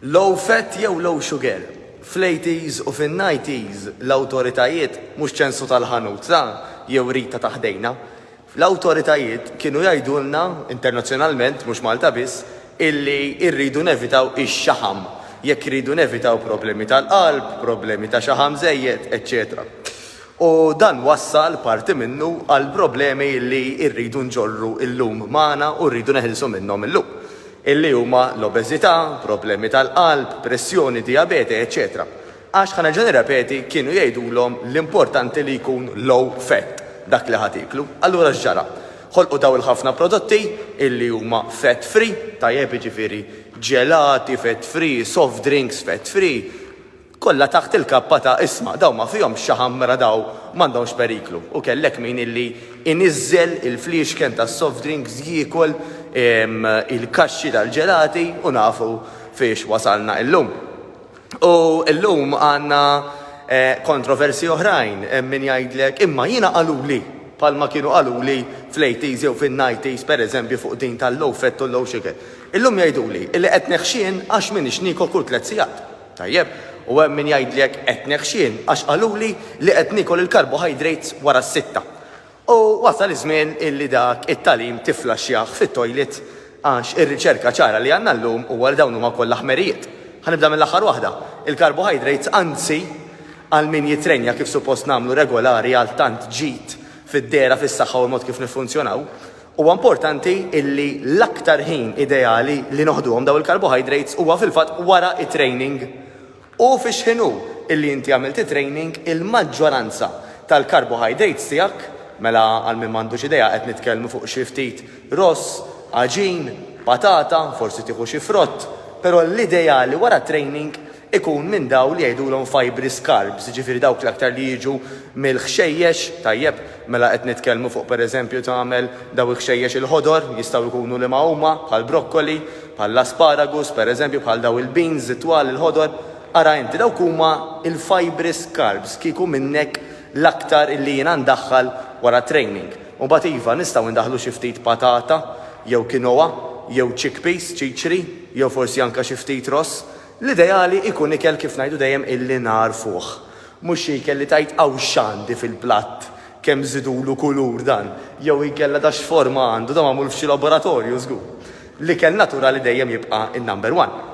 Low fat jew low sugar? Fl-80s u fin-90s l-awtoritajiet, mhux ċensu tal-ħanut ta' jew Rita ta' ħdejna, l-awtoritajiet kienu jgħidulna, internazzjonalment mhux Malta biss, illi rridu nevitaw ix-xaħam jekk irridu nevitaw problemi tal-qalb, problemi ta' xaħam żejjed, eċċetera. U dan wassal, parti minnu, għal problemi li rridu nġorru llum magħna u rridu neħilsu minnhom illum, illi huma l-obeżità, problemi tal-qalb, pressjoni, dijabete, eċċetera Għax, ħa nerġa' nirrepeti, kienu jgħidulhom l-importanti li jkun low fat dak li ħa tieklu. Allura x'ġara? Ħolqu daw il-ħafna prodotti illi huma fat free, tajjeb, jiġifieri ġelati fat free, soft drinks fat free, Kollha taħt il-kappa ta' isma'. Dawn ma fihomx xaħam mela dawn m'għandhomx periklu. U kellek min illi iniżżel il-fliexken tas-soft drinks jiekol il-kaxxi tal-ġelati u nafu fiex wasalna illum. U illum għandna kontroversji oħrajn. Hemm min jgħidlek imma jiena qaluli bħalma kienu qaluli fl-80s jew fin-90s pereżempju fuq din tal-low fat u l-low sugar. Illum jgħiduli illi qed neħxien għax m'iniex niekol kull tliet sigħat. Tajjeb, u hemm min jgħidli hekk qed neħxien għax qaluli li qed niekol il-carbohydrates wara s-sitta. U wasal iż-żmien illi dak it-tagħlim tifflaxxjah fit-toilet għax ir-riċerka ċara li għandna llum huwa li dawn huma kollha ħmerijiet. Ħa nibda mill-aħħar waħda, il-carbohydrates anzi għal min jittrenja kif suppost nagħmlu regolari għal tant ġid fid-dehra, fis-saħħa u l-mod kif niffunzjonaw, Huwa importanti illi l-aktar ħin ideali li noħduhom dawn il-carbohydrates huwa fil-fatt wara t-training. U fi xħin hu illi inti għamilt it-training il-maġġoranza tal-carbohydrates tiegħek, mela għal min m'għandux idea qed nitkellmu fuq xi ftit ross, għaġin, patata, forsi tieħu xi frott, però l-ideali wara t-training ikun minn dawn li jgħidulhom fibres carbs, jiġifieri dawk l-aktar li jiġu mill-ħxejjex, tajjeb, mela qed nitkellmu fuq pereżempju tagħmel dawn il-ħxejjex il-ħodor, jistgħu jkunu liema huma, bħall-brokkoli, bħall-asparagus, pereżempju bħal dawn il-beans it-twal il-ħodor, ara inti, dawk huma l-fibres carbs, kieku minnek l-aktar li jiena ndaħħal wara training. U mbagħad iva, nistgħu ndaħħlu xi ftit patata, jew quinoa, jew chickpeas, ċiċri, jew forsi anke xi ftit ross, L-ideali ikun ikel kif ngħidu dejjem illi nagħrfuh. Mhux xi ikel li tgħid hawn x'għandi fil-platt, kemm żidulu kulur dan, jew inkella da x'forma għandu, da magħmul f'xi laboratorju żgur. L-ikel naturali dejjem jibqa' in-number one.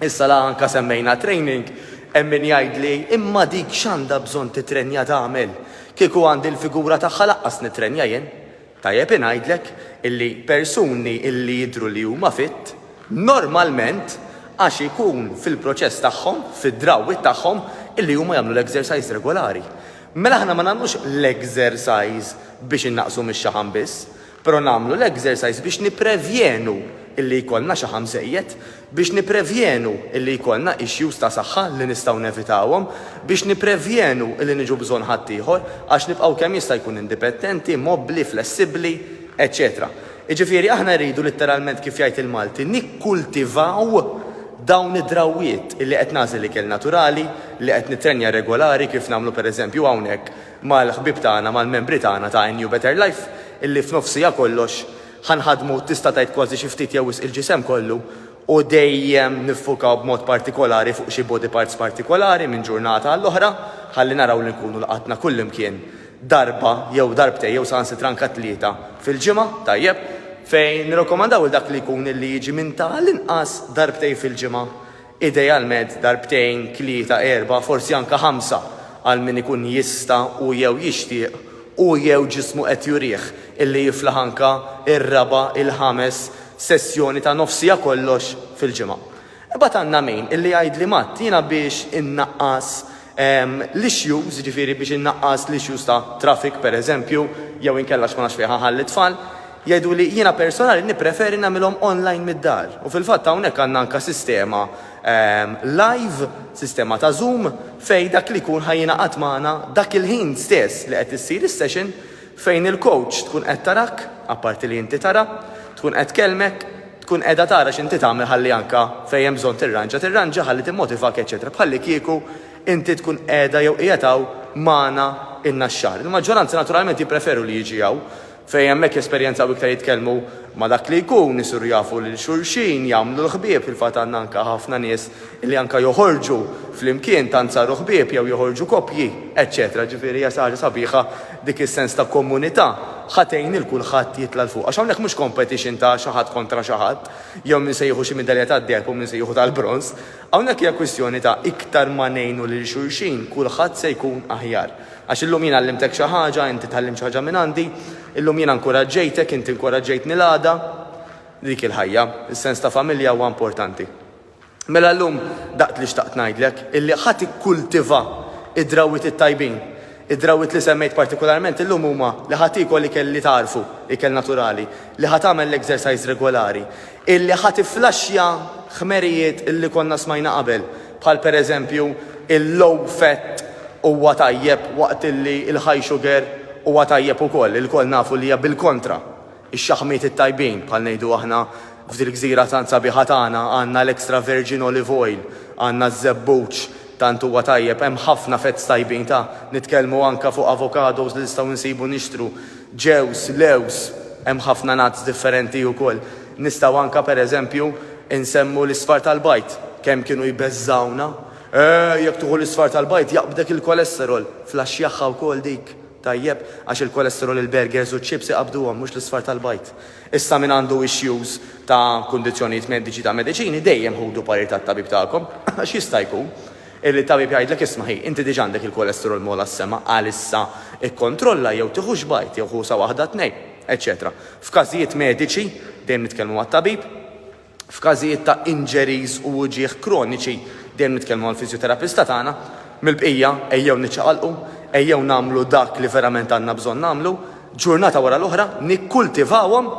Issa la anka semmejna training, hemm min jgħidli imma dik x'għandha bżonn titrenja tagħmel? Kieku għandi l-figura tagħha laqqas nitrenja jien. Tajjeb ingħidlek illi persuni illi jidhru li huma fit, normalment għax ikun fil-proċess tagħhom, fid-drawwiet tagħhom, illi huma jagħmlu l-exercise regolari. Mela aħna ma nagħmlux l-exercise biex innaqqsu mix-xaħam biss, pero nagħmlu l-exercise biex nipprevjenu illi jkollna xaħam żejjed. Biex nipprevjenu illi jkollna issues ta' saħħa li nistgħu nevitawhom, biex nipprevjenu illi niġu bżonn ħaddieħor, għax nibqgħu kemm jista' jkun indipettenti, mobbli, flessibbli, eċċetera Jiġifieri aħna rridu litteralment kif jgħid il-Malti nikkultivaw dawn id-drawwiet illi qed nagħżel ikel naturali, li qed nittrenja regolari kif nagħmlu pereżempju hawnhekk mal-ħbieb tagħna, mal-membri tagħna ta' NU Better Life illi f'nofsija kollox, Ħa nħaddmu, tista' tgħid kważi xi ftit jew wisq il-ġisem kollu, u dejjem niffukaw b'mod partikolari fuq xi body parts partikolari minn ġurnata għall-oħra, ħalli naraw li nkunu lqatna kullimkien darba jew darbtejn jew saħansitra anke tlieta fil-ġimgħa, tajjeb, fejn nirrakkomandaw lil dak li jkun li jiġi minn ta' l-inqas darbtejn fil-ġimgħa. Idealment darbtejn, tlieta, erbgħa, forsi anke ħamsa, għal min ikun jista' u jew jixtieq u jew ġismu qed jurih illi jiflaħ anke r-raba', il-ħames sessjoni ta' nofs siegħa kollox fil-ġimgħa. Imbagħad għandna min illi jgħidli Matt, jiena biex innaqqas l-issues, jiġifieri biex innaqqas l-issues ta' traffic pereżempju, jew inkella għax ma nafx fejn ħa nħalli t-tfal, Jgħiduli, jiena personali nippreferi nagħmilhom online mid-dar u fil-fatt hawnhekk għandna anke sistema live, sistema ta' Zoom, fejn dak li jkun ħa jingħaqad magħna dak il-ħin stess li qed issir is-session fejn il-coach tkun qed tarak, apparti li inti tara, tkun qed tkellmek, tkun qiegħda tara x'inti tagħmel ħalli anke fejn hemm bżonn tirranġa tirranġa ħalli timmotivak eċċetera bħallikieku inti tkun qiegħda jew qiegħed hawn magħna in-naxxar. Il-maġġoranza naturalment jippreferu li jiġi hawn. Fejn hemmhekk jesperjenzaw iktar jitkellmu ma' dak li jkun, isiru jafu lil xulxin, jagħmlu l-ħbieb, fil-fatt għandna anke ħafna nies li anke joħorġu flimkien, tant saru ħbieb, jew joħorġu koppji, eċċetera Ġifieri hija xi ħaġa sabiħa dik is-sens ta' komunità, ħa tgħin lil kulħadd jitla' 'l fuq. Għax hawnhekk mhux competition ta' xi ħadd kontra xi ħadd, jew min se jieħu xi midalja tad-deheb u min se jieħu tal-bronż. Hawnhekk hija kwistjoni ta' iktar ma ngħinu lil xulxin, kulħadd se jkun aħjar. Għax illum jien għallimtek xi ħaġa, inti tgħallimt xi ħaġa minn għandi. Illum jiena nkuraġġejtek, inti nkuraġġejtni l-għada. Dik hi l-ħajja. Is-sens ta' familja huwa importanti. Mela llum dak li xtaqt ngħidlek, illi ħa tikkultiva d-drawwiet it-tajbin. Id-drawwiet li semmejt partikularment illum huma li ħa tiekol ikel li tagħrfu, ikel naturali, li ħa tagħmel l-exercise regolari, illi ħa tifflaxxja ħmerijiet illi konna smajna qabel, bħal pereżempju il-low fat huwa tajjeb waqt li l-high sugar huwa tajjeb ukoll. Ilkoll nafu li hija bil-kontra. Ix-xaħmiet it-tajbin, bħal ngħidu aħna f'dil-gżira tant sabiħa tagħna, għandna l-extra virgin olive oil, għandna ż-żebbuġ tant huwa tajjeb, hemm ħafna fats tajbin ta' nitkellmu anke fuq avocados li nistgħu nsibu nixtru, ġewż, lewż, hemm ħafna nuts differenti ukoll. Nistgħu anke, per eżempju, insemmu l-isfar tal-bajd. Kemm kienu jbeżżgħuna! Eeh, jekk tieħu l-isfar tal-bajd jaqbdek il-kolesterol! Flaxxjaha wkoll dik, tajjeb, għax il-kolesterol il-burgers u ċ-chips iqabbduhom, mhux l-isfar tal-bajd. Issa min għandu issues ta' kundizzjonijiet mediċi ta' mediċini, dejjem ħudu parir tat-tabib tagħkom, għax jista' jkun illi t-tabib jgħidlek isma' ħi, inti diġà għandek il-kolesterol m'għola s-sema għalissa ikkontrolla jew tieħux bajd jew ħusa waħda tnejn. eċċetera F'każijiet mediċi, dejjem nitkellmu mat-tabib, f'każijiet ta' injuries u uġigħ kroniċi, dejjem nitkellmu mal-fiżjoterapista tagħna, mill-bqija, ejjew niċċaqalqu, ejjew nagħmlu dak li verament għandna bżonn nagħmlu, ġurnata wara l-oħra, nikkultivawhom,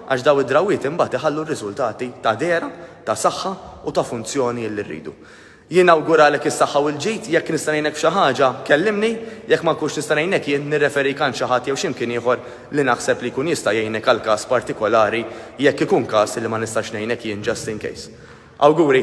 għax dawn id-drawwiet imbagħad iħallu r-riżultati ta' dehra, ta' saħħa u ta' funzjoni li rridu. Jien nawguralek is-saħħa u l-ġid, jekk nista' ngħinek f'xi ħaġa, kellimni, jekk ma nkunx nista' ngħinek jien, nirreferik għand xi ħadd jew xi mkien ieħor li naħseb li jkun jista' jgħinek għal każ partikolari jekk ikun każ li ma nistax ngħinek jien just in case. Awguri!